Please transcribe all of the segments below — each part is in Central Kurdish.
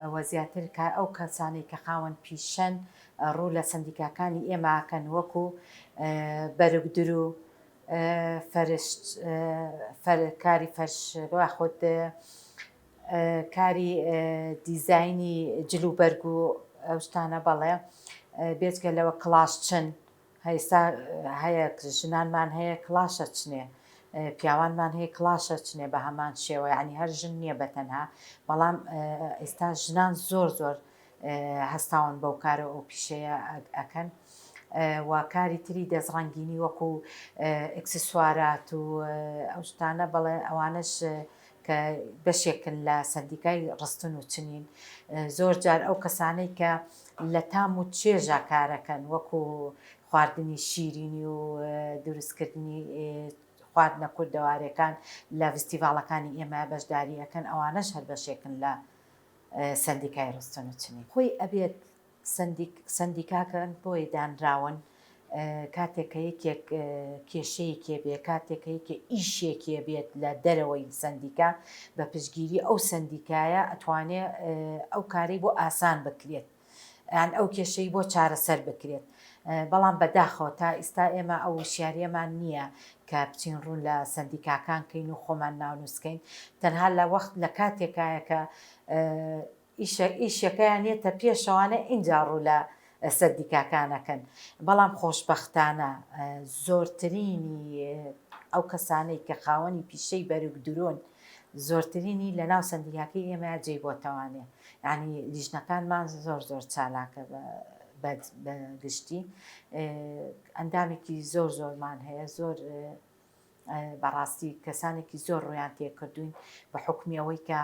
و زیاتر کە ئەو کەسانەی کە خاوەن پیشەن ڕوو لە سەندیکاکانی ئێمە ئەکەن وەکو بەرگدر و کاری فەرش یاخود کاری دیزاینی جل و بەرگ و ئەو شتانە بەڵێ بێجگە لەوە کڵاشچن هەیستا هەیە ژنانمان هەیە کڵاش ئەچنێ پیاوانمان هەیە کڵاش ئەچنێ بە هەمان شێوە یانی هەر ژن نییە بە تەنها بەڵام ئێستا ژنان زۆر زۆر هەستاون بەو کارە ئەو پیشەیە ئەکەن و کاری تری دەست ڕەنگینی وەکو ئەکسسوارات و ئەو شتانە بەڵێ ئەوانش کە بەشێکن لە سندیکای ڕستن و چنین زۆر جار ئەو کەسانەی کە لە تام و چێژا کارەکەن وەکو خواردنی شیرینی و دروست کردنی خواردنە کوردەواریەکان لە ڤستیڤاڵەکانی ئێمە بەشداری ئەکەن ئەوانەش هەر بەشێکن لە سەندیکای ڕستن و چنین خۆی ئەبێت سەندیک سەندیکاکەن بۆی دانراون کاتێک کە یەکێک کێشەیەکی هەبێت، کاتێک کە یەکێک ئیشێکی هەبێت لە دەرەوەی سەندیکا، بە پشتگیری ئەو سەندیکایە ئەتوانێ ئەو کارەی بۆ ئاسان بکرێت، یان ئەو کێشەی بۆ چارەسەر بکرێت. بەڵام بەداخەوە تا ئیستا ئێمە ئەو وشیاریەمان نییە کە بچین ڕوون لە سەندیکاکان کەین و خۆمان ناونووسکەین. تەنها لە وەخت لە کاتێکایە کە ئیشە ئیشەکەیان یەتە پێشەوانە ئینجا ڕوو لە سەندیکاکانەکەن بەڵام خۆشبەختانە زۆرترینی ئەو کەسانەی کە خاوەنی پیشەی بەرگ درۆن زۆرترینی لە ناو سەندیکاکەی ئێمەیا جێی بۆتەوانێ یانی لیژنەکانمان زۆر زۆر چالاکە بە بەگشتی ئەندامێکی زۆر زۆرمان هەیە زۆر بەڕاستی کەسانێکی زۆر ڕویان تێکردوین بە حکومی ئەوەی کە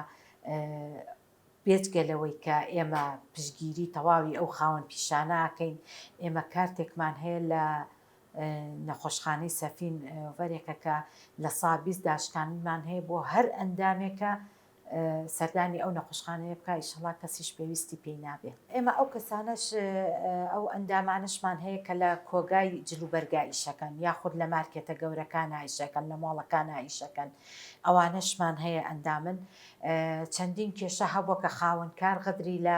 بێجگە لەوەی کە ئێمە پشگیری تەواوی ئەو خاوەن پیشانەکەین ئێمە کارتێکمان هەیە لە نەخۆشخانەی سەفین وەرێکەکە لە سابیست داشکانمان هەیە بۆ هەر ئەندامێکە سەردانی ئەو نەخۆشخانەیە بکا ئیشەڵا کەسیش پێویستی پێی نابێ. ئێمە ئەو کەسانەش ئەو ئەندامانەشمان هەیە کە لە کۆگای جلوبەرگا ئیشەکەن یاخود لە مارکێتە گەورەکانا ئیشەکەن لە مۆڵەکانا ئیشەکەن ئەوانەشمان هەیە ئەندامن چەندین کێشە هەبوە کە خاوەن کار غەدری لە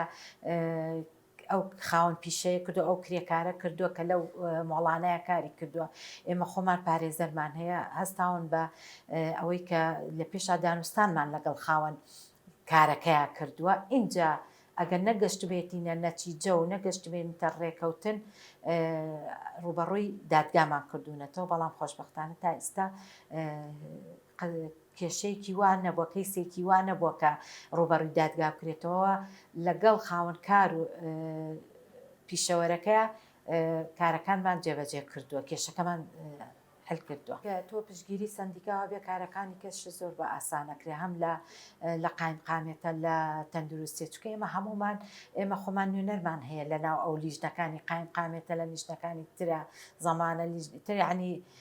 ئەو خاوەن پیشەیە کردوە ئەو کرێکارە کردوە کە لەو مۆڵانەیە کاری کردوە ئێمە خۆمان پارێزەرمان هەیە هەستاون بە ئەوەی کە لە پێشا دانوستانمان لەگەڵ خاوەن کارەکەیا کردوە ئینجا ئەگەر نەگەشتبێتینە نەتیجە و نەگەشتبێنتە ڕێکەوتن ڕوبەڕووی دادگامان کردوونەتەوە بەڵام خۆشببختانە تا ئێستا کێشەیەکی وا نەبووە، کەیسێکی وا نەبووە کە ڕووبەڕووی دادگا بکرێتەوە، لەگەڵ خاوەن کار و پیشەوەرەکە کارەکانمان جێبەجێ کردووە، کێشەکەمان حل کردووە. کە تۆ پشتگیری سەندیکاوە بێ کارەکانی کەشت زۆر بە ئاسان ئەکرێ، هەم لە لە قایمقامیەتە لە تەندروستیە، چونکە ئێمە هەموومان ئێمە خۆمان نوێنەرمان هەیە لەناو ئەو لیژنەکانی قایمقامیەتە لە لیژنەکانی ترە زەمانە لیژنە تر یانی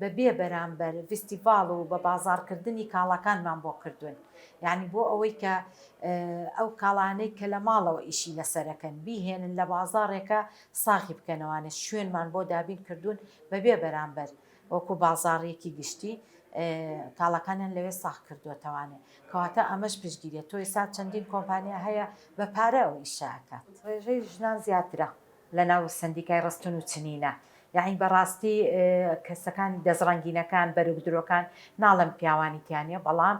بە بێ بەرامبەر ڤیستیڤاڵ و بە بازاڕ کردنی کاڵاکانمان بۆ کردوون یانی بۆ ئەوەی کە ئەو کاڵانەی کە لە ماڵەوە ئیشی لەسەرەکەن بیهێنن لە بازاڕێکە ساغی بکەنەوانە شوێنمان بۆ دابین کردوون بە بێ بەرامبەر وەکو بازاڕیەکی گشتی کاڵەکانیان لەوێ ساغ کردووەتەوانێ کەواتە ئەمەش پشگیرێت تۆی سات چەندین کۆمپانیا هەیە بە پارە ئەو ئیشاکات ڕێژەی ژنان زیاترە لە ناو سەندیکای ڕستن و چنینە یەعنی بە ڕاستی کەسەکانی دەست ڕەنگینەکان بەروک درۆکان ناڵێم پیاوانی تیا نیە بەڵام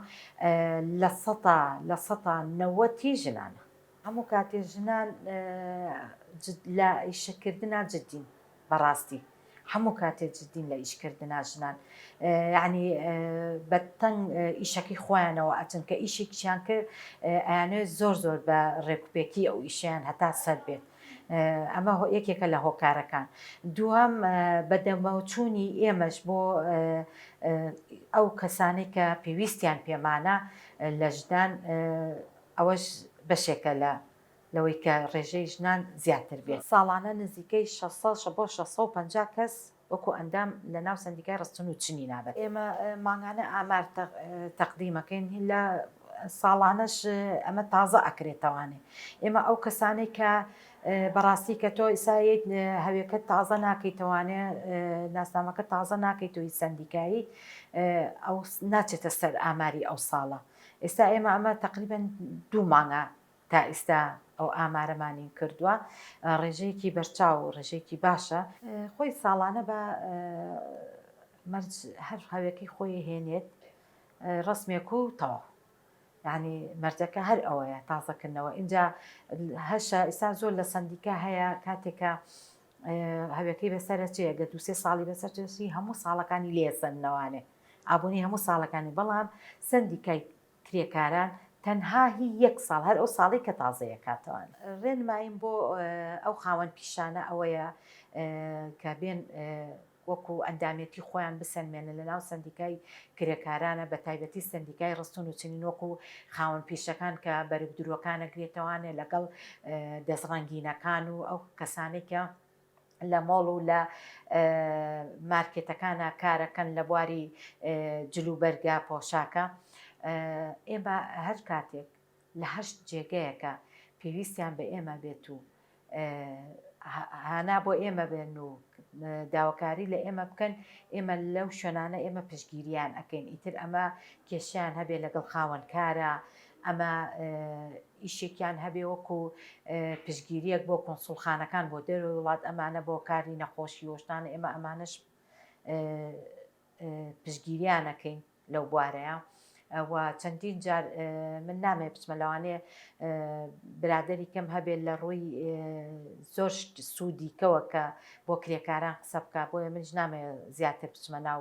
لە سەتا لە سەتا نەوەتی ژنانە. هەموو کاتێ ژنان لە ئیشە کردنا جدین بە ڕاستی. هەموو کاتێ جدین لە ئیش کردنا ژنان یعنی بە تەنگ ئیشەکەی خۆیانەوە ئەچن کە ئیشێکیان کرد ئەیانێ زۆر زۆر بە ڕێکوپێکی ئەو ئیشیان هەتا سەر بێت. ئەمە یەکێکە لە هۆکارەکان دووەم بەدەمەوچوونی ئێمەش بۆ ئەو کەسانی کە پێویستیان پێمانە لە ژدان ئەوەش بەشێکە لە لەوەی کە ڕێژەی ژنان زیاتر بێت. ساڵانە نزیکەی شەش سەد بۆ شەش سەد و پەنجا کەس وەکو ئەندام لە ناو سەندیکای ڕستن و چنی نابەن. ئێمە مانگانە ئامار تەقدیم ئەکەین لە ساڵانەش ئەمە تازە ئەکرێتەوانێ. ئێمە ئەو کەسانەی کە بە ڕاستی کە تۆ ئیسا یەیت هەوێکەت تازە ناکەیتەوانێ ناسنامەکەت تازە ناکەیت و هیچ سەندیکایی ئەو ناچێتە سەر ئاماری ئەو ساڵە. ئێستا ئێمە ئەمە تەقریبەن دوو مانگە تا ئیستا ئەو ئامارەمان نین کردوە ڕێژەیەکی بەرچاو و ڕێژەیەکی باشە. خۆی ساڵانە با مەرج هەر هەوێکەی خۆی هێنێت ڕسمێک و تەواو. یعنی مەرجەکە هەر ئەوەیە تازەکردنەوە ئینجا هەشە ئیستا زۆر لە سندیکە هەیە کاتێکە هەوێکەی بەسەرچەیە گە دوسێ ساڵی بەسەرچی هەموو ساڵەکانی لێسەنەوانێ ئابوونی هەموو ساڵەکانی بەڵام سندیکای کرێکاران تەنها هی یەک ساڵ هەر ئەو ساڵەی کە تازەیە کاتەوان. رێنماییم بۆ ئەو خاوەن پیشانە ئەوەیە کە بێن وەکو ئەندامێتی خۆیان بسەلمێنن لە ناو سەندیکای کرێکارانە بە تایبەتی سەندیکای رستون و چنین وەکو خاوەن پیشەکان کە بەرگ دروەکانە گرێتەوانێ لەگەڵ دەست رەنگینەکان و ئەو کەسانەی کە لە مۆڵ و لە مارکێتەکانا کارەکەن لە بواری جل و بەرگە پۆشاکە ئێمە هەر کاتێک لە هەشت جێگەیەکە پێویستیان بە ئێمە بێت و هانا بۆ ئێمە بێن و داواکاری لە ئێمە بکەن ئێمە لەو شوێنانە ئێمە پشگیریان ئەەکەین ئیتر ئەمە کێشیان هەبێ لەگەڵ خاوەنکارە ئەمە ئیشێکیان هەبێ وەکو پشتگیریەک بۆ کونسوڵخانەکان بۆ دەرەوەی وڵات ئەمانە بۆ کاری نەخۆشی وەشتانە ئێمە ئەمانەش پشتگیریانەکەین لەو بوارەیە و چەندین جار من نامێ بچمە لەوانێ برادری کەم هەبێت لە ڕووی زۆر سوودیکەوە کە بۆ کرێکاران قسە بکە بۆیە منش نامێ زیاتر بچمە ناو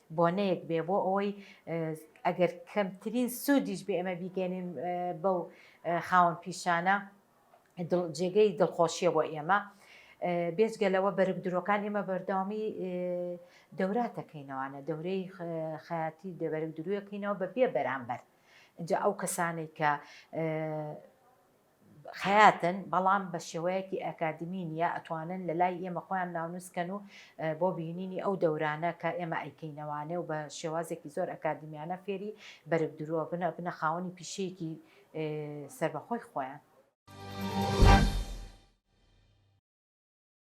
بۆنەیەک بێ بۆ ئەوەی ئەگەر کەمترین سوودیش بێ ئێمە بیگەێنین بەو خاوەن پیشانە جێگەی دڵخۆشیە بۆ ئێمە. بێجگە لەوە بەرگ درۆکان ئێمە بەرداوامی دەوراتەکەینەوانە دەورەی خەیاتی دەبەرگ درویەکەینەوە بە بێ بەرامبەر. ئەو کەسانێک کە خەیاتن بەڵام بە شێوەیەکی ئەکادیمی نیە ئەتوانن لە لای ئێمە خۆیان ناونوس کەن و بۆ بینینی ئەو دەورانە کە ئێمە ئەیکەینەوانێ و بە شێوازێکی زۆر ئەکادیمیانە فێری بەرگ دروە بن ئەبنە خاوەنی پیشەیەکی سەربەخۆی خۆیان.